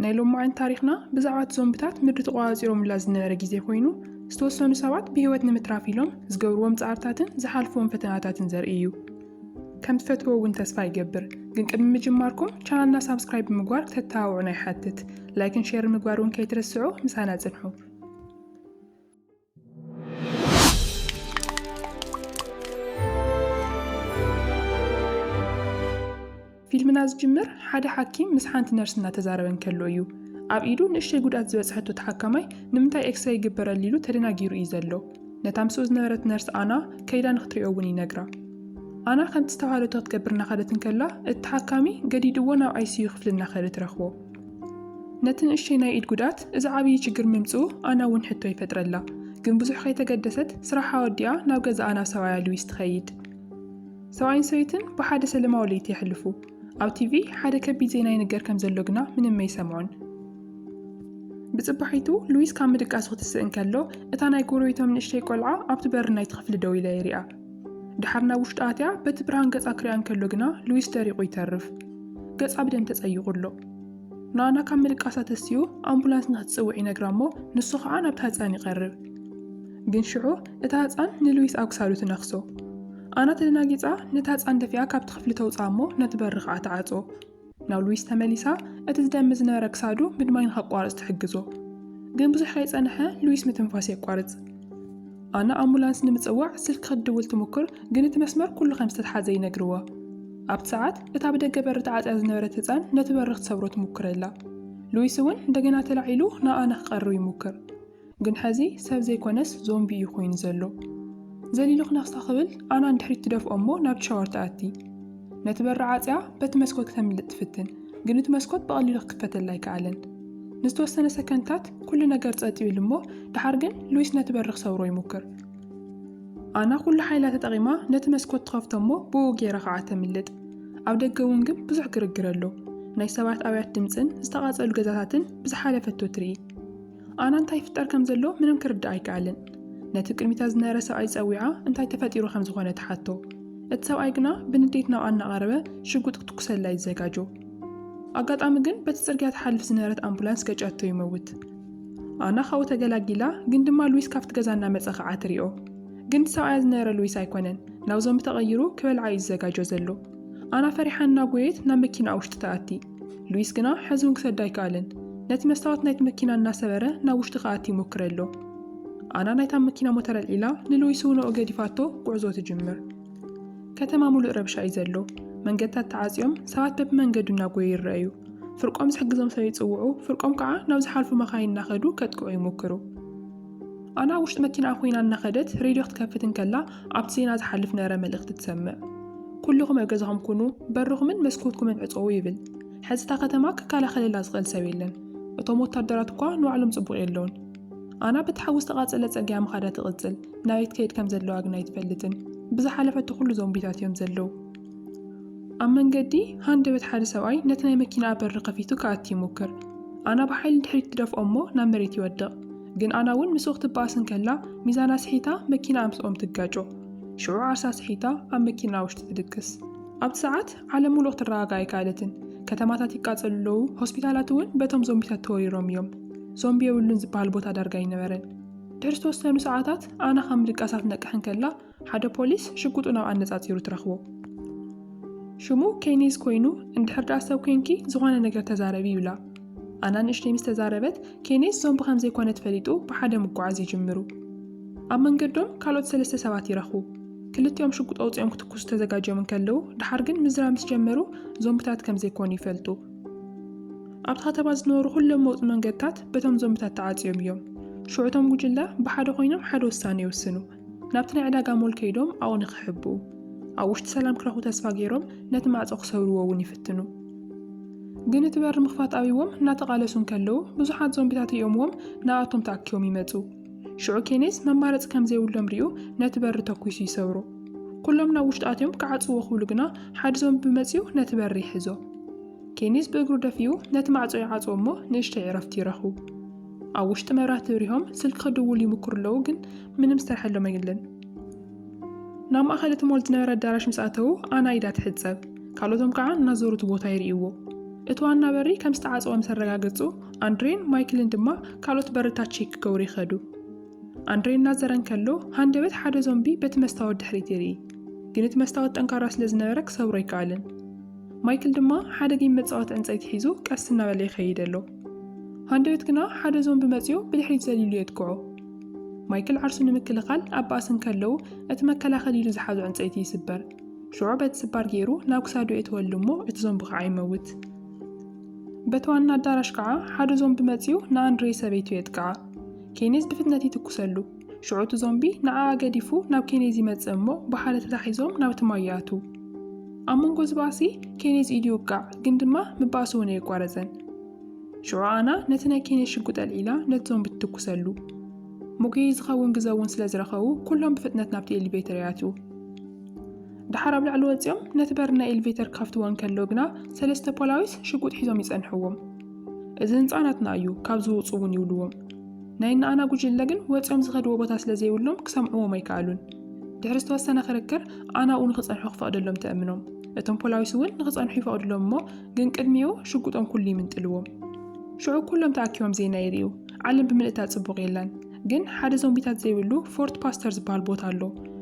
ናይ ሎማዕንቲ ታሪኽና ብዛዕባ እቲ ዞምብታት ምድሪ ተቖጻጺሮምላ ዝነበረ ግዜ ኮይኑ፣ ዝተወሰኑ ሰባት ብህይወት ንምትራፍ ኢሎም ዝገብርዎም ጻዕርታትን ዝሓልፍዎም ፈተናታትን ዘርኢ እዩ። ከም ትፈትዎ እውን ተስፋ ይገብር። ግን ቅድሚ ምጅማርኩም ቻናልና ሳብስክራይብ ብምግባር ክተተባብዑና ይሓትት። ላይክን ሼርን ምግባር እውን ከይትርስዑ ምሳና ጽንሑ። ፊልምና ዝጅምር ሓደ ሓኪም ምስ ሓንቲ ነርስ እናተዛረበ እንከሎ እዩ። ኣብ ኢዱ ንእሽተይ ጉድኣት ዝበፅሐቶ ተሓካማይ ንምንታይ ኤክስሬ ይግበረሉ ኢሉ ተደናጊሩ እዩ ዘሎ። ነታ ምስኡ ዝነበረት ነርስ ኣና ከይዳ ንክትሪኦ እውን ይነግራ። ኣና ከምቲ ዝተባሃለቶ ክትገብር እናኸደት እንከላ እቲ ተሓካሚ ገዲድዎ ናብ ኣይሲዩ ክፍሊ እናኸደ ትረኽቦ። ነቲ ንእሽተይ ናይ ኢድ ጉድኣት እዚ ዓብዪ ችግር ምምፅኡ ኣና እውን ሕቶ ይፈጥረላ። ግን ብዙሕ ከይተገደሰት ስራሓ ወዲኣ ናብ ገዛ ኣና ሰብኣያ ሉዊስ ትኸይድ። ሰብኣይን ሰበይትን ብሓደ ሰለማዊ ለይቲ የሕልፉ። ኣብ ቲቪ ሓደ ከቢድ ዜና ይንገር ከም ዘሎ ግና ምንም ኣይሰምዑን። ብፅባሒቱ ሉዊስ ካብ ምድቃሱ ክትስእ እንከሎ እታ ናይ ጎረቤቶም ንእሽተይ ቆልዓ ኣብቲ በሪ ናይቲ ክፍሊ ደው ኢላ የሪኣ። ድሓር ናብ ውሽጣ ኣትያ በቲ ብርሃን ገጻ ክሪኣ እንከሎ ግና ሉዊስ ደሪቑ ይተርፍ። ገጻ ብደም ተጸይቑ ኣሎ። ንኣና ካብ ምልቃሳ ተሲኡ ኣምቡላንስ ንኽትጽውዕ ይነግራ እሞ ንሱ ኸኣ ናብታ ህጻን ይቐርብ። ግን ሽዑ እታ ህጻን ንሉዊስ ኣብ ክሳዱ ትነኽሶ። ኣና ተደናጊጻ ነታ ህጻን ደፊኣ ካብቲ ክፍሊ ተውጽኣ እሞ ነቲ በሪ ኸኣ ትዓጾ። ናብ ሉዊስ ተመሊሳ እቲ ዝደሚ ዝነበረ ክሳዱ ምድማይ ንኸቋርጽ ትሕግዞ። ግን ብዙሕ ከይጸንሐ ሉዊስ ምትንፋስ የቋርጽ። ኣና ኣምቡላንስ ንምጽዋዕ ስልኪ ክትድውል ትሙክር፣ ግን እቲ መስመር ኩሉ ከም ዝተትሓዘ ይነግርዋ። ኣብቲ ሰዓት እታ ብደገ በሪ ተዓጽያ ዝነበረት ህጻን ነቲ በሪ ክትሰብሮ ትሙክረላ። ሉዊስ እውን እንደገና ተላዒሉ ንኣና ክቐርብ ይሙክር። ግን ሐዚ ሰብ ዘይኮነስ ዞምቢ እዩ ኮይኑ ዘሎ። ዘሊሉ ክነኽሳ ክብል ኣና ንድሕሪት ትደፍኦ እሞ ናብቲ ሻወር ትኣቲ። ነቲ በሪ ዓጽያ በቲ መስኮት ክተምልጥ ትፍትን፣ ግን እቲ መስኮት ብቐሊሉ ክክፈተላ ኣይከኣለን። ንዝተወሰነ ሰከንድታት ኩሉ ነገር ጸጥ ይብል እሞ ደሓር ግን ሉዊስ ነቲ በሪ ክሰብሮ ይሙክር። ኣና ኩሉ ሓይላ ተጠቒማ ነቲ መስኮት ትኸፍቶ እሞ ብኡ ጌራ ከዓ ተምልጥ። ኣብ ደገ እውን ግን ብዙሕ ግርግር ኣሎ። ናይ ሰባት ኣውያት ድምጽን ዝተቓጸሉ ገዛታትን ብዝሓለፈቶ ትርኢ። ኣና እንታይ ይፍጠር ከም ዘሎ ምንም ክርዳኣ ኣይከኣለን። ነቲ ቅድሚታ ዝነበረ ሰብኣይ ጸዊዓ እንታይ ተፈጢሩ ከም ዝኾነ ትሓቶ። እቲ ሰብኣይ ግና ብንዴት ናብኣ እናቐረበ ሽጉጥ ክትኩሰላ ይዘጋጆ። ኣጋጣሚ ግን በቲ ጽርግያ ትሓልፍ ዝነበረት ኣምቡላንስ ገጫቶ ይመውት። ኣና ካብኡ ተገላጊላ ግን ድማ ሉዊስ ካብቲ ገዛ እናመጸ ከዓ ትሪኦ። ግን እቲ ሰብኣያ ዝነበረ ሉዊስ ኣይኮነን፣ ናብ ዞምቢ ተቐይሩ ክበልዓ እዩ ዝዘጋጆ ዘሎ። ኣና ፈሪሓ እናጎየት ናብ መኪናኣ ውሽጢ ትኣቲ። ሉዊስ ግና ሕዚ እውን ክሰዳ ኣይከኣለን። ነቲ መስታወት ናይቲ መኪና እናሰበረ ናብ ውሽጢ ክኣቲ ይሞክረ ኣሎ። ኣና ናይታ መኪና ሞተር ኣልዒላ ንሉዊስ እውን ኣብኡ ገዲፋቶ ጉዕዞ ትጅምር። ከተማ ሙሉእ ረብሻ እዩ ዘሎ። መንገድታት ተዓፅዮም ሰባት በብመንገዱ እናጎዩ ይረኣዩ። ፍርቆም ዝሕግዞም ሰብ ይፅውዑ፣ ፍርቆም ከዓ ናብ ዝሓልፉ መኻይን እናኸዱ ከጥቅዑ ይሞክሩ። ኣና ኣብ ውሽጢ መኪናኣ ኮይና እናኸደት ሬድዮ ክትከፍት እንከላ ኣብቲ ዜና ዝሓልፍ ነረ መልእኽቲ ትሰምዕ። ኩሉኹም ኣብ ገዛኹም ኩኑ፣ በርኹምን መስኮትኩምን ዕጸዉ ይብል። ሕዚ እታ ከተማ ክከላኸለላ ዝኽእል ሰብ የለን። እቶም ወታደራት እኳ ንባዕሎም ጽቡቕ የለውን። ኣና በቲ ሓዊ ዝተቓጸለ ጸግያ ምኻዳ ትቕጽል፣ ናበይ ትከይድ ከም ዘለዋ ግና ኣይትፈልጥን። ብዝሓለፈቶ ኩሉ ዞምቢታት እዮም ዘለዉ። ኣብ መንገዲ ሃንደበት ሓደ ሰብኣይ ነቲ ናይ መኪናኣ በሪ ከፊቱ ክኣቲ ይሙክር። ኣና ብሓይሊ ንድሕሪት ትደፍኦ እሞ ናብ መሬት ይወድቕ። ግን ኣና እውን ምስኡ ክትበኣስ እንከላ ሚዛና ስሒታ መኪናኣ ምስኦም ትጋጮ። ሽዑ ዓርሳ ስሒታ ኣብ መኪናኣ ውሽጢ ትድቅስ። ኣብቲ ሰዓት ዓለም ምሉእ ክትረጋጋእ ኣይከኣለትን። ከተማታት ይቃጸሉ ኣለዉ፣ ሆስፒታላት እውን በቶም ዞምቢታት ተወሪሮም እዮም። ዞምቢ የብሉን ዝበሃል ቦታ ዳርጋ ኣይነበረን። ድሕሪ ዝተወሰኑ ሰዓታት ኣና ካብ ምድቃሳ ክትነቅሕ እንከላ ሓደ ፖሊስ ሽጉጡ ናብኣ ኣነጻጺሩ ትረኽቦ። ሽሙ ኬኒዝ ኮይኑ፣ እንድሕር ደኣ ሰብ ኴንኪ ዝኾነ ነገር ተዛረቢ ይብላ። ኣና ንእሽተይ ምስ ተዛረበት፣ ኬኒዝ ዞምቢ ከም ዘይኮነት ፈሊጡ ብሓደ ምጉዓዝ ይጅምሩ። ኣብ መንገዶም ካልኦት ሰለስተ ሰባት ይረኽቡ። ክልቲኦም ሽጉጥ ኣውጺኦም ክትኩሱ ተዘጋጅዮም እንከለዉ፣ ደሓር ግን ምዝራብ ምስ ጀመሩ ዞምብታት ከም ዘይኮኑ ይፈልጡ። ኣብቲ ከተማ ዝነበሩ ኩሎም መውጽ መንገድታት በቶም ዞምብታት ተዓጽዮም እዮም። ሽዑ እቶም ጉጅለ ብሓደ ኮይኖም ሓደ ውሳነ ይውስኑ። ናብቲ ናይ ዕዳጋ ሞል ከይዶም ኣብኡ ንኽሕብኡ፣ ኣብ ውሽጢ ሰላም ክረኽቡ ተስፋ ገይሮም ነቲ ማዕጾ ክሰብርዎ እውን ይፍትኑ። ግን እቲ በሪ ምኽፋት ኣብይዎም እናተቓለሱ እንከለዉ ብዙሓት ዞምቢታት ሪኦምዎም ንኣቶም ተኣኪቦም ይመጹ። ሽዑ ኬኔዝ መማረጺ ከም ዘይብሎም ሪኡ ነቲ በሪ ተኲሱ ይሰብሮ። ኩሎም ናብ ውሽጢ ኣትዮም ክዓጽዎ ክብሉ ግና ሓዲ ዞምቢ መጺኡ ነቲ በሪ ይሕዞ። ኬኔዝ ብእግሩ ደፊኡ ነቲ ማዕጾ ይዓጽዎ እሞ ንእሽተይ ዕረፍቲ ይረኽቡ። ኣብ ውሽጢ መብራህቲ ብሪሆም ስልኪ ክድውሉ ይምክሩ ኣለዉ፣ ግን ምንም ዝሰርሐሎም የለን። ናብ ማእኸል እቲ ሞል ዝነበረ ኣዳራሽ ምስ ኣተዉ ኣና ኢዳ ትሕጸብ፣ ካልኦቶም ከዓ እናዞሩ እቲ ቦታ ይርእይዎ። እቲ ዋና በሪ ከም ዝተዓጸወ ምስ ኣረጋገጹ ኣንድሬን ማይክልን ድማ ካልኦት በርታት ቼክ ክገብሩ ይኸዱ። ኣንድሬ እናዘረ እንከሎ ሃንደበት ሓደ ዞምቢ በቲ መስታወት ድሕሪት ይርኢ፣ ግን እቲ መስታወት ጠንካራ ስለ ዝነበረ ክሰብሮ ኣይከኣልን። ማይክል ድማ ሓደ ጌም መጻወቲ ዕንጸይቲ ሒዙ ቀስ እናበለ ይኸይድ ኣሎ። ሃንደበት ግና ሓደ ዞምቢ መጺኡ ብድሕሪት ዘሊሉ የጥቅዖ። ማይክል ዓርሱ ንምክልኻል ኣብ ባእሲ እንከለዉ እቲ መከላኸሊ ኢሉ ዝሓዞ ዕንጸይቲ ይስበር። ሽዑ በቲ ስባር ገይሩ ናብ ክሳዱ የእትወሉ እሞ እቲ ዞምቢ ከዓ ይመውት። በቲ ዋና ኣዳራሽ ከዓ ሓደ ዞምቢ መጺኡ ንኣንድሬ ሰበይቱ የጥቅዓ። ኬኔዝ ብፍጥነት ይትኩሰሉ። ሽዑ እቲ ዞምቢ ንዓኣ ገዲፉ ናብ ኬኔዝ ይመጽእ እሞ ብሓደ ተታሒዞም ናብቲ ማይ ይኣትው። ኣብ መንጎ እዚ ባእሲ ኬኔዝ ኢዱ ይውቃዕ፣ ግን ድማ ምባእሱ እውን ኣየቋረጸን። ሽዑ ኣና ነቲ ናይ ኬኔዝ ሽጉጥ ኣልዒላ ነቲ ዞምቢ ትትኩሰሉ። መጉየዪ ዝኸውን ግዘ እውን ስለ ዝረኸቡ ኩሎም ብፍጥነት ናብቲ ኤሊቬተር ይኣትው። ድሓር ኣብ ላዕሊ ወጺኦም ነቲ በሪ ናይ ኤሊቬተር ክኸፍትዎ እንከለው ግና ሰለስተ ፖላዊስ ሽጉጥ ሒዞም ይጸንሕዎም። እዚ ህንጻ ናትና እዩ፣ ካብዚ ውጹ እውን ይብልዎም። ናይ እነኣና ጉጅለ ግን ወጺኦም ዝኸድዎ ቦታ ስለ ዘይብሎም ክሰምዕዎም ኣይከኣሉን። ድሕሪ ዝተወሰነ ክርክር ኣናኡ ንኽጸንሑ ክፈቕደሎም ተእምኖም። እቶም ፖላዊስ እውን ንኽጸንሑ ይፈቕድሎም እሞ ግን ቅድሚኡ ሽጉጦም ኩሉ ይምንጥልዎም። ሽዑ ኩሎም ተኣኪቦም ዜና ይርእዩ። ዓለም ብምልእታ ጽቡቕ የላን። ግን ሓደ ዞምቢታት ዘይብሉ ፎርት ፓስተር ዝበሃል ቦታ ኣሎ።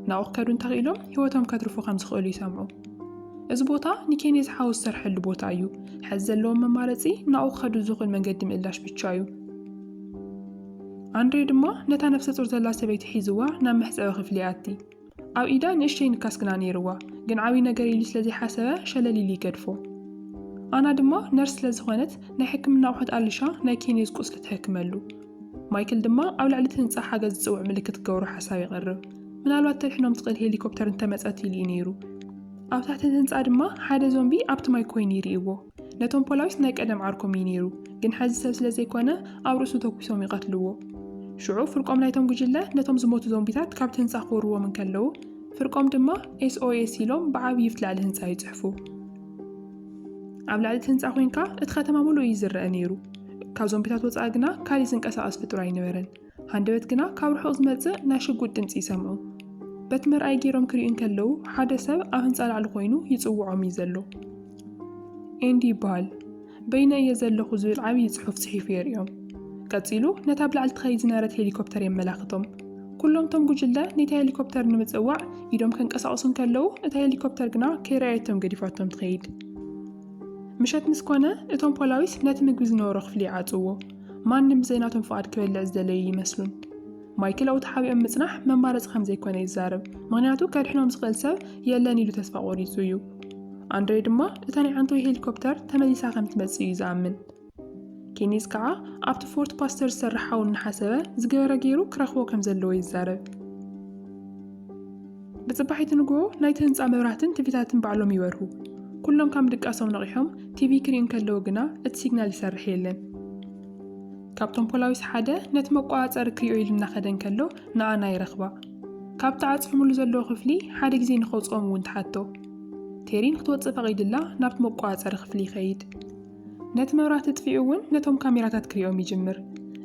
ናብኡ ክከዱ እንተኽኢሎም ህይወቶም ከትርፉ ከም ዝኽእሉ ይሰምዑ። እዚ ቦታ ንኬንየ ዝሓወ ዝሰርሐሉ ቦታ እዩ። ሕዚ ዘለዎም መማረፂ ናብኡ ክኸዱ ዝኽእል መንገዲ ምእላሽ ብቻ እዩ። ኣንድሬ ድማ ነታ ነፍሰ ፁር ዘላ ሰበይቲ ሒዝዋ ናብ መሕፀቢ ክፍሊ ይኣቲ። ኣብ ኢዳ ንእሽተይ ንካስ ግና ነይርዋ፣ ግን ዓብዪ ነገር ኢሉ ስለዘይሓሰበ ሸለል ኢሉ ይገድፎ። ኣና ድማ ነርስ ስለዝኾነት ናይ ሕክምና ኣቑሑት ኣልሻ ናይ ኬንየዝ ቁስሊ ትሕክመሉ። ማይክል ድማ ኣብ ልዕሊ እቲ ህንፃ ሓገዝ ዝፅውዕ ምልክት ክገብሮ ሓሳብ የቕርብ። ምናልባት ተድሕኖም ትኽእል ሄሊኮፕተር እንተመጸት ኢሉ እዩ ነይሩ። ኣብ ታሕቲ እቲ ህንጻ ድማ ሓደ ዞምቢ ኣብቲ ማይ ኮይኑ ይርእይዎ። ነቶም ፖላዊስ ናይ ቀደም ዓርኮም እዩ ነይሩ፣ ግን ሐዚ ሰብ ስለ ዘይኮነ ኣብ ርእሱ ተኩሶም ይቐትልዎ። ሽዑ ፍርቆም ናይቶም ጉጅለ ነቶም ዝሞቱ ዞምቢታት ካብቲ ህንጻ ክወርዎም እንከለዉ፣ ፍርቆም ድማ SOS ኢሎም ብዓብዪ ኣብቲ ላዕሊ ህንጻ ይጽሕፉ። ኣብ ላዕሊ እቲ ህንጻ ኮንካ እቲ ከተማ ምሉእ እዩ ዝረኣ ነይሩ፣ ካብ ዞምቢታት ወጻኢ ግና ካሊእ ዝንቀሳቐስ ፍጡር ኣይነበረን። ሃንደበት ግና ካብ ርሑቕ ዝመጽእ ናይ ሽጉጥ ድምጺ ይሰምዑ። በቲ መርኣዪ ገይሮም ክሪኡ እንከለዉ ሓደ ሰብ ኣብ ህንጻ ላዕሊ ኮይኑ ይጽውዖም እዩ ዘሎ። ኤንዲ ይበሃል። በይነይ እየ ዘለኹ ዝብል ዓብዪ ጽሑፍ ጽሒፉ የርእዮም። ቀጺሉ ነታ ኣብ ላዕሊ ትኸይድ ዝነበረት ሄሊኮፕተር የመላኽቶም። ኩሎም እቶም ጉጅለ ነታ ሄሊኮፕተር ንምጽዋዕ ኢዶም ከንቀሳቕሱ እንከለዉ እታ ሄሊኮፕተር ግና ከይረኣየቶም ገዲፋቶም ትኸይድ። ምሸት ምስ ኮነ እቶም ፖላዊስ ነቲ ምግቢ ዝነበሮ ክፍሊ ይዓጽዎ። ማንም ብዘይ ናቶም ፍቓድ ክበልዕ ዝደለዩ ይመስሉን። ማይክል ኣብኡ ተሓቢኦም ምጽናሕ መማረጺ ከም ዘይኮነ ይዛረብ፣ ምኽንያቱ ከድሕኖም ዝኽእል ሰብ የለን ኢሉ ተስፋ ቆሪጹ እዩ። ኣንድሬ ድማ እታ ናይ ዓንተወይ ሄሊኮፕተር ተመሊሳ ከም ትመጽእ እዩ ዝኣምን። ኬኒዝ ከኣ ኣብቲ ፎርት ፓስተር ዝሰርሕ ሓው እናሓሰበ ዝገበረ ገይሩ ክረኽቦ ከም ዘለዎ ይዛረብ። ብጽባሒቲ ንግሆ ናይቲ ህንጻ መብራህትን ቲቪታትን ባዕሎም ይበርሁ። ኩሎም ካም ድቃሶም ነቒሖም ቲቪ ክሪኡ እንከለዉ ግና እቲ ሲግናል ይሰርሕ የለን። ካብቶም ፖላዊስ ሓደ ነቲ መቆጻጸሪ ክሪኦ ኢሉ እናኸደ እንከሎ ንኣና ይረኽባ። ካብ ተዓጽፍምሉ ዘለዎ ክፍሊ ሓደ ግዜ ንኸውጽኦም እውን ትሓቶ። ቴሪ ንክትወጽእ ፈቒድላ ናብቲ መቆጻጸሪ ክፍሊ ይኸይድ። ነቲ መብራህቲ ኣጥፊኡ እውን ነቶም ካሜራታት ክሪኦም ይጅምር።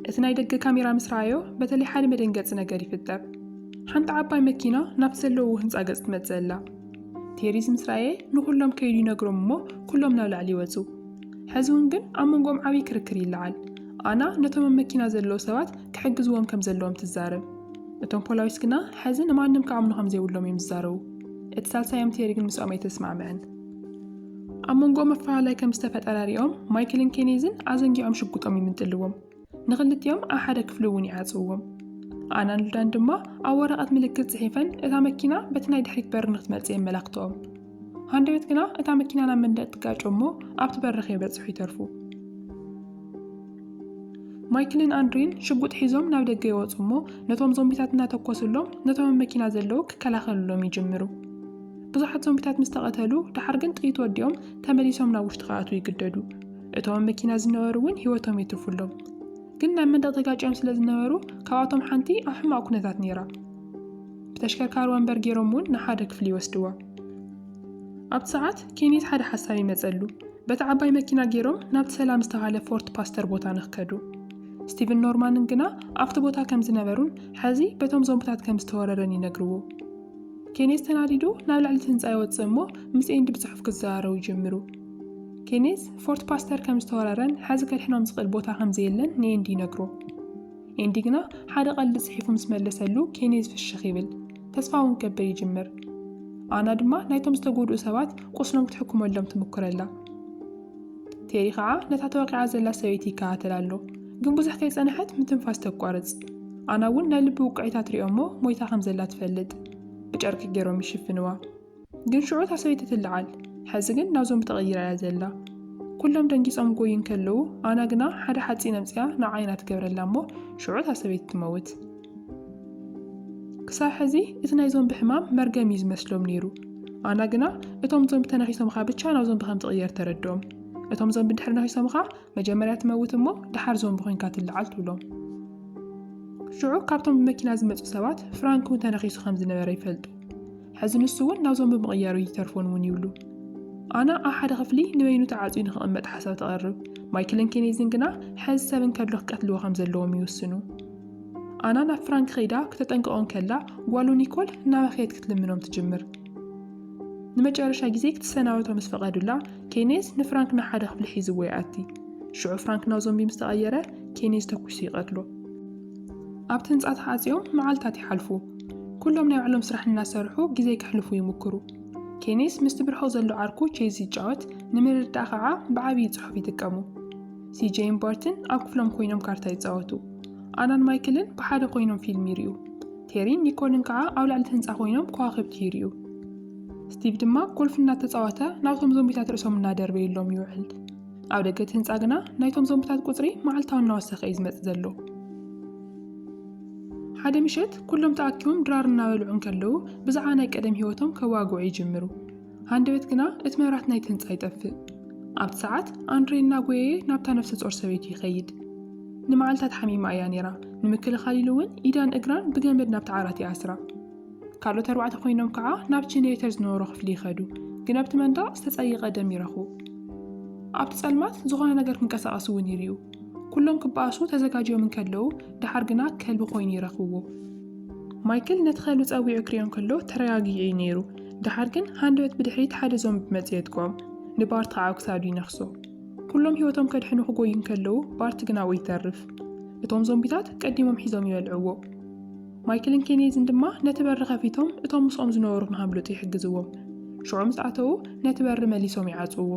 እቲ ናይ ደገ ካሜራ ምስ ረኣዮ በተለይ ሓደ መደንገፂ ነገር ይፍጠር። ሓንቲ ዓባይ መኪና ናብቲ ዘለውዎ ህንፃ ገፅ ትመፅእ ኣላ። ቴሪዝ ምስ ረኣየ ንኹሎም ከይዱ ይነግሮም እሞ ኩሎም ናብ ላዕሊ ይወፁ። ሕዚ እውን ግን ኣብ መንጎኦም ዓብዪ ክርክር ይለዓል። ኣና ነቶም ኣብ መኪና ዘለዉ ሰባት ክሕግዝዎም ከም ዘለዎም ትዛረብ። እቶም ፖላዊስ ግና ሕዚ ንማንም ክኣምኑ ከም ዘይብሎም እዮም ዝዛረቡ። እቲ ሳልሳዮም ቴሪ ግን ምስኦም ኣይተስማዕምዕን። ኣብ መንጎ መፈላላይ ከም ዝተፈጠረ ሪኦም ማይክልን ኬኔዝን ኣዘንጊዖም ሽጉጦም ይምንጥልዎም ንክልቲኦም ኣብ ሓደ ክፍሊ እውን ይዓፅውዎም ኣናን ሉዳን ድማ ኣብ ወረቐት ምልክት ጽሒፈን እታ መኪና በቲ ናይ ድሕሪት በሪ ንክትመጽእ የመላክተኦም ሃንደበት ግና እታ መኪና ናብ መንደቅ ትጋጮ እሞ ኣብቲ በሪ ከይበጽሑ ይተርፉ ማይክልን ኣንድሪን ሽጉጥ ሒዞም ናብ ደገ ይወፁ እሞ ነቶም ዞምቢታት እናተኮስሎም ነቶም መኪና ዘለዉ ክከላኸልሎም ይጅምሩ ብዙሓት ዞምቢታት ምስ ተቐተሉ፣ ደሓር ግን ጥይት ወዲኦም ተመሊሶም ናብ ውሽጢ ክኣትዉ ይግደዱ። እቶም ኣብ መኪና ዝነበሩ እውን ህይወቶም የትርፉ ኣሎም። ግን ናብ መንደቕ ተጋጭዮም ስለ ዝነበሩ፣ ካብኣቶም ሓንቲ ኣብ ሕማቕ ኩነታት ነይራ። ብተሽከርካሪ ወንበር ገይሮም እውን ንሓደ ክፍሊ ይወስድዋ። ኣብቲ ሰዓት ኬኔት ሓደ ሓሳብ ይመጸሉ። በታ ዓባይ መኪና ገይሮም ናብቲ ሰላም ዝተባህለ ፎርት ፓስተር ቦታ ንክከዱ። ስቲቭን ኖርማንን ግና ኣብቲ ቦታ ከም ዝነበሩን ሕዚ በቶም ዞምብታት ከም ዝተወረረን ይነግርዎ። ኬኔዝ ተናዲዱ ናብ ልዕሊ እቲ ህንጻ ይወጽእ እሞ ምስ ኤንዲ ብጽሑፍ ክዘራረቡ ይጅምሩ። ኬኔዝ ፎርት ፓስተር ከም ዝተወረረን ሐዚ ከድሕኖም ዝኽእል ቦታ ከም ዘየለን ንኤንዲ ይነግሮ። ኤንዲ ግና ሓደ ቀልዲ ጽሒፉ ምስ መለሰሉ ኬኔዝ ፍሽኽ ይብል፣ ተስፋ እውን ከብል ይጅምር። ኣና ድማ ናይቶም ዝተጎድኡ ሰባት ቁስሎም ክትሕክመሎም ትምኩረላ። ቴሪ ኸዓ ነታ ተወቂዓ ዘላ ሰበይቲ ይከታተላ ኣሎ። ግን ብዙሕ ከይጸንሐት ምትንፋስ ተቋርጽ። ኣና እውን ናይ ልቢ ውቅዒታት ሪኦ እሞ ሞይታ ከም ዘላ ትፈልጥ። ብጨርቂ ገይሮም ይሽፍንዋ። ግን ሽዑ እታ ሰበይቲ ትለዓል። ሐዚ ግን ናብ ዞምቢ ተቐይራ እያ ዘላ። ኩሎም ደንጊጾም ጎዩ እንከለዉ ኣና ግና ሓደ ሓጺን ኣምጺኣ ንዓይ ኢና ትገብረላ እሞ ሽዑ እታ ሰበይቲ ትመውት። ክሳብ ሕዚ እቲ ናይ ዞምቢ ሕማም መርገም እዩ ዝመስሎም ነይሩ። ኣና ግና እቶም ዞምቢ ተናኺሶምኻ ብቻ ናብ ዞምቢ ከም ትቕየር ተረድኦም። እቶም ዞምቢ እንድሕር ነኺሶምኻ መጀመርያ ትመውት እሞ ደሓር ዞምቢ ኮይንካ ትለዓል ትብሎም። ሽዑ ካብቶም ብመኪና ዝመፁ ሰባት ፍራንክ እውን ተነኺሱ ከም ዝነበረ ይፈልጡ። ሕዚ ንሱ እውን ናብ ዞምቢ ምቕያሩ ይተርፎን እውን ይብሉ። ኣና ኣብ ሓደ ክፍሊ ንበይኑ ተዓፅዩ ንክቕመጥ ሓሳብ ተቐርብ። ማይክልን ኬኔዝን ግና ሕዚ ሰብ እንከሎ ክቀትልዎ ከም ዘለዎም ይውስኑ። ኣና ናብ ፍራንክ ከይዳ ክተጠንቀቖ እንከላ ጓሉ ኒኮል እናበኸየት ክትልምኖም ትጅምር። ንመጨረሻ ግዜ ክትሰናበቶ ምስ ፈቐዱላ ኬኔዝ ንፍራንክ ንሓደ ክፍሊ ሒዝዎ ይኣቲ። ሽዑ ፍራንክ ናብ ዞምቢ ምስ ተቐየረ ኬኔዝ ተኲሱ ይቐትሎ። ኣብቲ ህንጻ ተዓጽዮም መዓልታት ይሓልፉ። ኩሎም ናይ ባዕሎም ስራሕ እናሰርሑ ግዜ ከሕልፉ ይምኩሩ። ኬኔዝ ምስቲ ብርሑቕ ዘሎ ዓርኩ ቼዝ ይጫወት፣ ንምርድዳእ ከኣ ብዓብዪ ጽሑፍ ይጥቀሙ። ሲጄይን ባርትን ኣብ ክፍሎም ኮይኖም ካርታ ይጻወቱ። ኣናን ማይክልን ብሓደ ኮይኖም ፊልም ይርእዩ። ቴሪን ኒኮልን ከዓ ኣብ ላዕሊ ህንፃ ኮይኖም ከዋኽብቲ ይርእዩ። ስቲቭ ድማ ጎልፍ እናተፃወተ ናብቶም ዞምቢታት ርእሶም እናደርበየሎም ይውዕል። ኣብ ደገ እቲ ህንፃ ግና ናይቶም ዞምቢታት ቁፅሪ መዓልታዊ እናወሰኸ እዩ ዝመፅእ ዘሎ። ሓደ ምሸት ኩሎም ተኣኪቦም ድራር እናበልዑ እንከለዉ ብዛዕባ ናይ ቀደም ህይወቶም ከዋግዑ ይጅምሩ። ሃንደበት ግና እቲ መብራት ናይቲ ህንጻ ይጠፍእ። ኣብቲ ሰዓት ኣንድሬ እናጎየየ ናብታ ነፍሰ ጾር ሰበይቱ ይኸይድ። ንመዓልታት ሓሚማ እያ ነይራ፣ ንምክልኻል ኢሉ እውን ኢዳን እግራን ብገመድ ናብቲ ዓራት ይኣስራ። ካልኦት ኣርባዕተ ኮይኖም ከዓ ናብ ቼኔሬተር ዝነበሮ ክፍሊ ይኸዱ፣ ግን ኣብቲ መንደቕ ዝተጸየቐ ደም ይረኽቡ። ኣብቲ ጸልማት ዝኾነ ነገር ክንቀሳቐስ እውን ይርእዩ። ኩሎም ክበኣሱ ተዘጋጅዮም እንከለዉ፣ ደሓር ግና ከልቢ ኮይኑ ይረኽብዎ። ማይክል ነቲ ከልቢ ጸዊዑ ክሪኦ እንከሎ ተረጋጊዑ እዩ ነይሩ፣ ደሓር ግን ሃንደበት ብድሕሪት ሓደ ዞምቢ መጺኡ የጥቅኦም፣ ንባርት ኸኣ ኣብ ክሳዱ ይነኽሶ። ኩሎም ህይወቶም ከድሕኑ ክጎዩ እንከለዉ ባርት ግን ኣብኡ ይተርፍ። እቶም ዞምቢታት ቀዲሞም ሒዞም ይበልዕዎ። ማይክልን ኬኔዝን ድማ ነቲ በሪ ከፊቶም እቶም ምስኦም ዝነበሩ ንኸምልጡ ይሕግዝዎም። ሽዑ ምስ ኣተዉ ነቲ በሪ መሊሶም ይዓጽውዎ።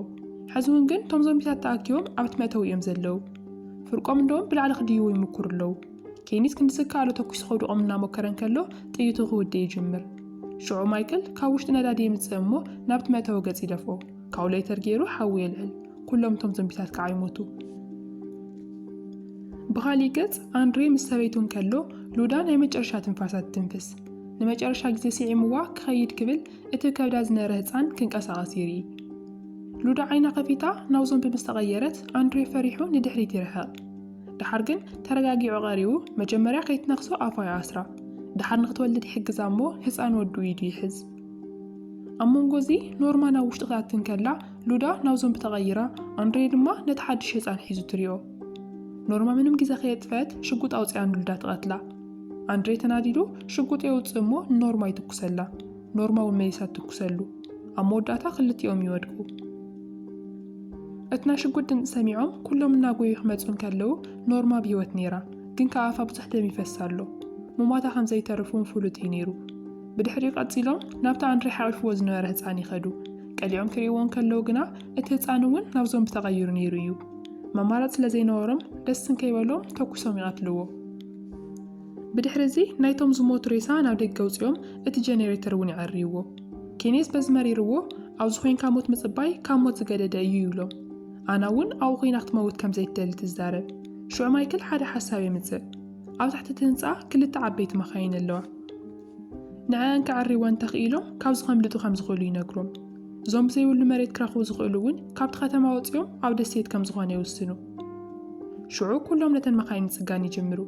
ሕዚ እውን ግን እቶም ዞምቢታት ተኣኪቦም ኣብቲ መእተዊ እዮም ዘለዉ። ፍርቆም እንደውም ብላዕሊ ክድይቡ ይምኩሩ ኣለዉ። ኬኒት ክንዲ ዝከኣሎ ተኲሱ ከውድቖም እናሞከረ እንከሎ፣ ጥይቱ ክውድእ ይጅምር። ሽዑ ማይክል ካብ ውሽጢ ነዳዲ የምጽእ እሞ ናብቲ መእተዊ ገጽ ይደፍኦ። ካብኡ ለይተር ገይሩ ሓዊ የልዕል። ኩሎም እቶም ዞምቢታት ከኣ ይሞቱ። ብኻሊእ ገጽ ኣንድሬ ምስ ሰበይቱ እንከሎ ሉዳ ናይ መጨረሻ ትንፋሳ ትትንፍስ። ንመጨረሻ ግዜ ስዒምዋ ክኸይድ ክብል እቲ ከብዳ ዝነረ ህጻን ክንቀሳቐስ ይርኢ። ሉዳ ዓይና ከፊታ ናብ ዞምቢ ምስ ተቐየረት ኣንድሬ ፈሪሑ ንድሕሪት ይርሕቕ። ደሓር ግን ተረጋጊዑ ቀሪቡ መጀመርያ ከይትነኽሶ ኣፋ ይኣስራ ደሓር ንክትወልድ ይሕግዛ እሞ ህፃን ወዱ ኢዱ ይሕዝ ኣብ መንጎ እዚ ኖርማ ናብ ውሽጢ ክትኣቲ እንከላ ሉዳ ናብ ዞምቢ ተቐይራ ኣንድሬ ድማ ነቲ ሓድሽ ህፃን ሒዙ ትሪኦ ኖርማ ምንም ግዜ ከየጥፈት ሽጉጥ ኣውፅኣ ንሉዳ ትቐትላ ኣንድሬ ተናዲዱ ሽጉጥ የውፅእ እሞ ንኖርማ ይትኩሰላ ኖርማዊ መይሳ ትኩሰሉ ኣብ መወዳእታ ክልቲኦም ይወድቁ። እቲ ናይ ሽጉጥ ድምፂ ሰሚዖም ኩሎም እናጎዩ ክመፁ እንከለዉ ኖርማ ኣብ ህይወት ነይራ፣ ግን ከኣ ኣፋ ብዙሕ ደም ይፈሳ ኣሎ። ሙማታ ከም ዘይተርፍ እውን ፍሉጥ እዩ ነይሩ። ብድሕሪኡ ቀፂሎም ናብቲ ኣንድሬ ሓቚፍዎ ዝነበረ ህፃን ይኸዱ። ቀሊዖም ክርእይዎ እንከለዉ ግና እቲ ህፃን እውን ናብ ዞምቢ ተቐይሩ ነይሩ እዩ። መማረፂ ስለ ዘይነበሮም ደስ እንከይበሎም ተኩሶም ይቐትልዎ። ብድሕሪ'ዚ ናይቶም ዝሞቱ ሬሳ ናብ ደገ ኣውጺኦም እቲ ጀኔሬተር እውን የዐርይዎ። ኬኔዝ በዚ መሪርዎ ኣብዚ ኮይንካ ሞት ምጽባይ ካብ ሞት ዝገደደ እዩ ይብሎም። ኣና እውን ኣብኡ ኮይና ክትመውት ከም ዘይትደሊ ትዛረብ። ሽዑ ማይክል ሓደ ሓሳብ የምጽእ። ኣብ ትሕቲ እቲ ህንጻ ክልተ ዓበይቲ መኻይን ኣለዋ። ንዐኣን ከዐርይወን እንተኽኢሎም ካብዚ ከምልጡ ከም ዝኽእሉ ይነግሮም። እዞም ብዘይብሉ መሬት ክረኽቡ ዝኽእሉ እውን ካብቲ ከተማ ወጺኦም ኣብ ደሴት ከም ዝኾነ ይውስኑ። ሽዑ ኩሎም ነተን መኻይን ምጽጋን ይጅምሩ።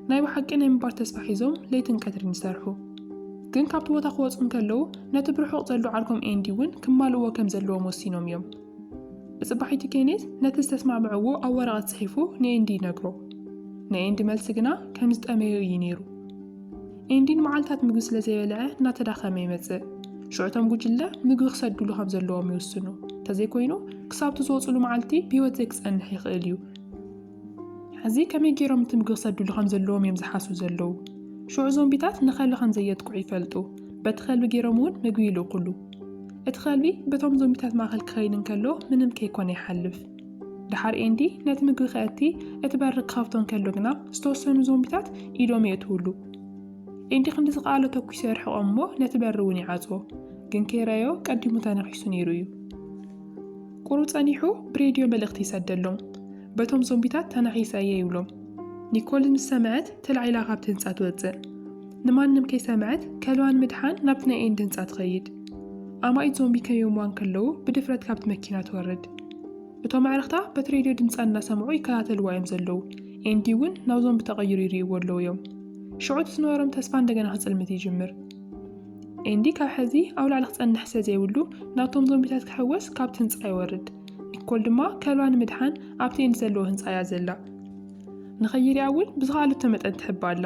ናይ ብሓቂ ናይ ምባር ተስፋ ሒዞም ለይትን ቀትርን ይሰርሑ። ግን ካብቲ ቦታ ክወጹ እንከለዉ ነቲ ብርሑቕ ዘሎ ዓርኮም ኤንዲ እውን ክማልእዎ ከም ዘለዎም ወሲኖም እዮም። ብጽባሒቱ ኬኔት ነቲ ዝተስማዕምዕዎ ኣብ ወረቐት ጽሒፉ ንኤንዲ ይነግሮ። ናይ ኤንዲ መልሲ ግና ከም ዝጠመዮ እዩ ነይሩ። ኤንዲ ንመዓልታት ምግቢ ስለ ዘይበልዐ እናተዳኸመ ይመጽእ። ሽዑ እቶም ጉጅለ ምግቢ ክሰድሉ ከም ዘለዎም ይውስኑ። እንተዘይኮይኑ ክሳብቲ ዝወጽሉ መዓልቲ ብህይወት ዘይክጸንሕ ይኽእል እዩ። ሕዚ ከመይ ገይሮም እቲ ምግቢ ክሰድሉ ከም ዘለዎም እዮም ዝሓስቡ ዘለዉ። ሽዑ ዞምቢታት ንኸልቢ ከም ዘየጥቅዑ ይፈልጡ። በቲ ከልቢ ገይሮም እውን ምግቢ ይልእኩሉ። እቲ ከልቢ በቶም ዞምቢታት ማእኸል ክኸይድ እንከሎ ምንም ከይኮነ ይሓልፍ። ደሓር ኤንዲ ነቲ ምግቢ ከእቲ እቲ በሪ ክኸፍቶ እንከሎ ግና ዝተወሰኑ ዞምቢታት ኢዶም የእትውሉ። ኤንዲ ክንዲ ዝኸኣሎ ተኲሱ የርሕቖም እሞ ነቲ በሪ እውን ይዓጽዎ። ግን ከይረኣዮ ቀዲሙ ተነኺሱ ነይሩ እዩ። ቁሩብ ጸኒሑ ብሬድዮ መልእኽቲ ይሰደሎም። በቶም ዞምቢታት ተናኺሰ እየ ይብሎም። ኒኮል ምስ ሰምዐት ተላዒላ ካብቲ ህንጻ ትወጽእ። ንማንም ከይሰምዐት ከልዋን ምድሓን ናብቲ ናይ ኤንዲ ህንጻ ትኸይድ። ኣማኢት ዞምቢ ከይዮምዋ እንከለዉ ብድፍረት ካብቲ መኪና ትወርድ። እቶም ኣዕርኽታ በቲ ሬድዮ ድምጻ እናሰምዑ ይከታተልዋ እዮም ዘለዉ። ኤንዲ እውን ናብ ዞምቢ ተቐይሩ ይርእይዎ ኣለዉ እዮም። ሽዑ እቲ ዝነበሮም ተስፋ እንደገና ክጽልምት ይጅምር። ኤንዲ ካብ ሕዚ ኣብ ላዕሊ ክጸንሕ ስለ ዘይብሉ ናብቶም ዞምቢታት ክሕወስ ካብቲ ህንጻ ይወርድ። ኒኮል ድማ ከልባ ንምድሓን ኣብቲ ኤንዲ ዘለዎ ህንጻ እያ ዘላ። ንኸይሪኣ እውን ብዝኸኣሉ እተመጠን ትሕብ ኣላ።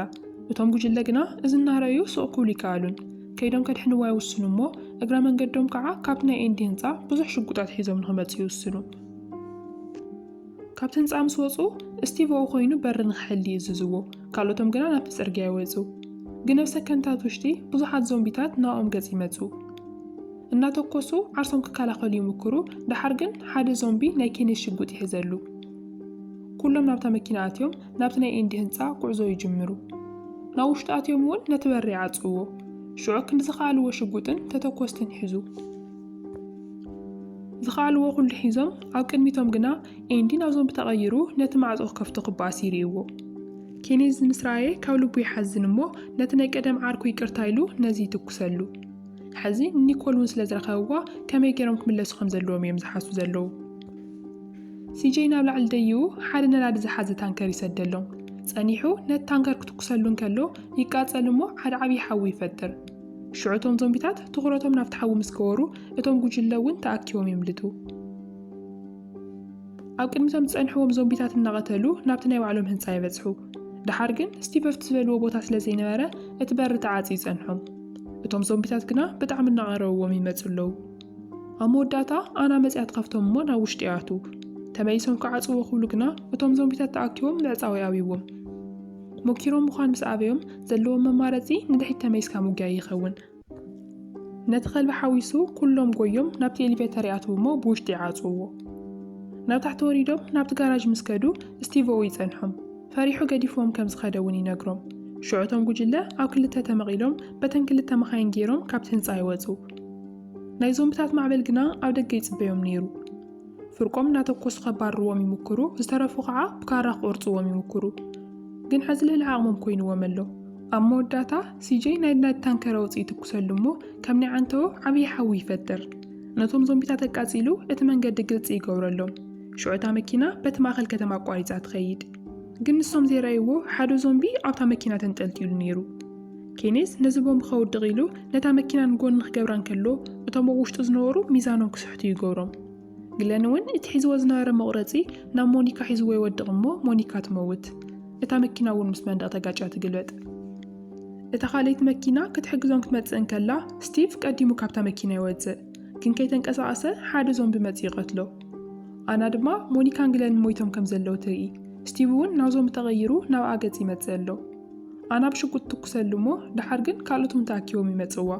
እቶም ጉጅለ ግና እዚ እናረኣዩ ሱቕ ክብሉ ኣይከኣሉን። ከይዶም ከድሕንዋ ይውስኑ እሞ እግረ መንገዶም ከዓ ካብቲ ናይ ኤንዲ ህንፃ ብዙሕ ሽጉጣት ሒዞም ንኽመፅኡ ይውስኑ። ካብቲ ህንፃ ምስ ወፁ እስቲቭ ኣብኡ ኮይኑ በሪ ንኽሕሊ ይእዝዝዎ፣ ካልኦቶም ግና ናብቲ ፅርግያ ይወፁ። ግን ኣብ ሰከንድታት ውሽጢ ብዙሓት ዞምቢታት ናብኦም ገፅ ይመፁ። እናተኮሱ ዓርሶም ክከላኸሉ ይምኩሩ፣ ደሓር ግን ሓደ ዞምቢ ናይ ኬኔት ሽጉጥ ይሕዘሉ። ኩሎም ናብታ መኪና ኣትዮም ናብቲ ናይ ኤንዲ ህንጻ ጉዕዞ ይጅምሩ። ናብ ውሽጢ ኣትዮም እውን ነቲ በሪ ይዓጽውዎ። ሽዑ ክንዲ ዝኸኣልዎ ሽጉጥን ተተኮስትን ይሕዙ። ዝኸኣልዎ ኩሉ ሒዞም ኣብ ቅድሚቶም ግና ኤንዲ ናብ ዞምቢ ተቐይሩ ነቲ ማዕጾ ክከፍቶ ክበኣስ ይርእይዎ። ኬኔዝ ምስ ረኣየ ካብ ልቡ ይሓዝን እሞ ነቲ ናይ ቀደም ዓርኩ ይቅርታ ኢሉ ነዚ ይትኩሰሉ። ሕዚ ንኒኮል እውን ስለ ዝረኸብዋ ከመይ ገይሮም ክምለሱ ከም ዘለዎም እዮም ዝሓስቡ ዘለዉ። ሲጀይ ናብ ላዕሊ ደይቡ ሓደ ነዳዲ ዝሓዘ ታንከር ይሰደሎም። ጸኒሑ ነቲ ታንከር ክትኩሰሉ እንከሎ ይቃጸል እሞ ሓደ ዓብዪ ሓዊ ይፈጥር። ሽዑ እቶም ዞምቢታት ትኹረቶም ናብቲ ሓዊ ምስ ገበሩ እቶም ጉጅለ እውን ተኣኪቦም የምልጡ። ኣብ ቅድሚ እቶም ዝጸንሕዎም ዞምቢታት እናቐተሉ ናብቲ ናይ ባዕሎም ህንጻ ይበጽሑ። ደሓር ግን ስቲቭ ኣብቲ ዝበልዎ ቦታ ስለ ዘይነበረ እቲ በሪ ተዓጽዩ ይጸንሖም። እቶም ዞምቢታት ግና ብጣዕሚ እናቐረብዎም ይመጹ ኣለዉ። ኣብ መወዳእታ ኣና መጺኣት ከፍቶም እሞ ናብ ውሽጢ ይኣትዉ። ተመሊሶም ክዓጽዎ ክብሉ ግና እቶም ዞምቢታት ተኣኪቦም ምዕጻው ይኣብይዎም። ሞኪሮም ምዃን ምስ ኣበዮም ዘለዎም መማረጺ ንድሕሪት ተመሊስካ ምጉያይ ይኸውን። ነቲ ከልቢ ሓዊሱ ኩሎም ጎዮም ናብቲ ኤሊቨተር ይኣትዉ እሞ ብውሽጢ ይዓጽውዎ። ናብ ታሕቲ ወሪዶም ናብቲ ጋራዥ ምስ ከዱ ስቲቭ'ኡ ይጸንሖም። ፈሪሑ ገዲፍዎም ከም ዝኸደ እውን ይነግሮም። ሽዑ እቶም ጉጅለ ኣብ ክልተ ተመቒሎም በተን ክልተ መኻይን ገይሮም ካብቲ ህንጻ ይወጹ። ናይ ዞምብታት ማዕበል ግና ኣብ ደገ ይጽበዮም ነይሩ። ፍርቆም እናተኮሱ ከባርርዎም ይምኩሩ፣ ዝተረፉ ከዓ ብካራ ክቆርጽዎም ይምኩሩ። ግን ሐዚ ልዕሊ ዓቕሞም ኮይንዎም ኣሎ። ኣብ መወዳእታ ሲጀይ ናይ ናይድ ታንከረ ወጽእ ይትኩሰሉ እሞ ከም ናይ ዓንተዎ ዓብዪ ሓዊ ይፈጥር። ነቶም ዞምቢታት ኣቃጺሉ እቲ መንገዲ ግልጺ ይገብረሎም። ሽዑ እታ መኪና በቲ ማእኸል ከተማ ኣቋሪጻ ትኸይድ። ግን ንሶም ዘይረኣይዎ ሓደ ዞምቢ ኣብታ መኪና ተንጠልጢሉ ነይሩ። ኬኔዝ ነዚ ቦምብ ከውድቕ ኢሉ ነታ መኪና ንጎኒ ክገብራ እንከሎ፣ እቶም ኣብ ውሽጡ ዝነበሩ ሚዛኖም ክስሕቱ ይገብሮም። ግለን እውን እቲ ሒዝዎ ዝነበረ መቑረጺ ናብ ሞኒካ ሒዝዎ ይወድቕ እሞ ሞኒካ ትመውት። እታ መኪና እውን ምስ መንደቕ ተጋጭያ ትግልበጥ። እታ ካልኣይቲ መኪና ክትሕግዞም ክትመጽእ እንከላ፣ ስቲቭ ቀዲሙ ካብታ መኪና ይወጽእ። ግን ከይተንቀሳቐሰ ሓደ ዞምቢ መጺኡ ይቐትሎ። ኣና ድማ ሞኒካን ግለንን ሞይቶም ከም ዘለዉ ትርኢ። ስቲቭ እውን ናብ ዞምቢ ተቐይሩ ናብኣ ገጽ ይመጽእ ኣሎ። ኣና ብሽጉጥ ትትኩሰሉ እሞ ደሓር ግን ካልኦት እውን ተኣኪቦም ይመጽእዋ።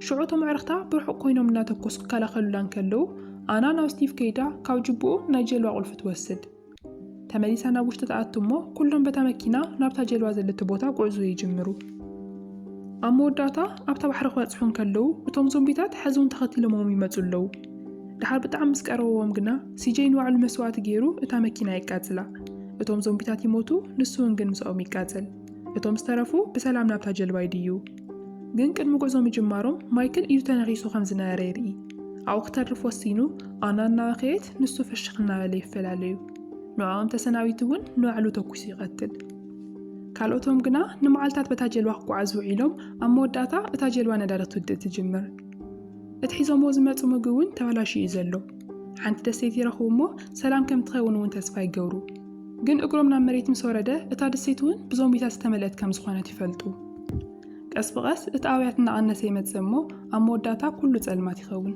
ሽዑ እቶም ኣዕርኽታ ብርሑቕ ኮይኖም እናተኮሱ ክከላኸሉላ እንከለዉ፣ ኣና ናብ ስቲቭ ከይዳ ካብ ጁቡኡ ናይ ጀልባ ቁልፊ ትወስድ። ተመሊሳ ናብ ውሽጢ ትኣቱ እሞ ኩሎም በታ መኪና ናብታ ጀልባ ዘለቶ ቦታ ጉዕዞ ይጅምሩ። ኣብ መወዳእታ ኣብታ ባሕሪ ክበጽሑ እንከለዉ እቶም ዞምቢታት ሕዚ እውን ተኸቲሎምዎም ይመጹ ኣለዉ። ድሓር ብጣዕሚ ምስ ቀረብዎም ግና ሲጀይ ንባዕሉ መስዋእቲ ገይሩ እታ መኪና የቃጽላ። እቶም ዞምቢታት ይሞቱ ንሱውን ግን ምሳኦም ይቃጸል። እቶም ዝተረፉ ብሰላም ናብታ ጀልባ ይድይቡ። ግን ቅድሚ ጉዕዞ ምጅማሮም ማይክል ኢዱ ተነኺሱ ከም ዝነበረ ይርኢ። ኣብኡ ክተርፍ ወሲኑ ኣና እናበኸየት ንሱ ፍሽኽ እናበለ ይፈላለዩ። ንዕኦም ተሰናቢቱ እውን ንባዕሉ ተኩሱ ይቐትል። ካልኦቶም ግና ንመዓልታት በታ ጀልባ ክጓዓዙ ውዒሎም ኣብ መወዳእታ እታ ጀልባ ነዳዲ ክትውድእ ትጅምር። እቲ ሒዞምዎ ዝመጹ ምግቢ እውን ተበላሽዩ እዩ ዘሎ። ሓንቲ ደሴት ይረኽቡ እሞ ሰላም ከም ትኸውን እውን ተስፋ ይገብሩ። ግን እግሮም ናብ መሬት ምስ ወረደ እታ ደሴት እውን ብዞምቢታት ዝተመልአት ከም ዝኾነት ይፈልጡ። ቀስ ብቐስ እቲ ኣውያት እናቐነሰ ይመጽእ እሞ ኣብ መወዳእታ ኩሉ ጸልማት ይኸውን።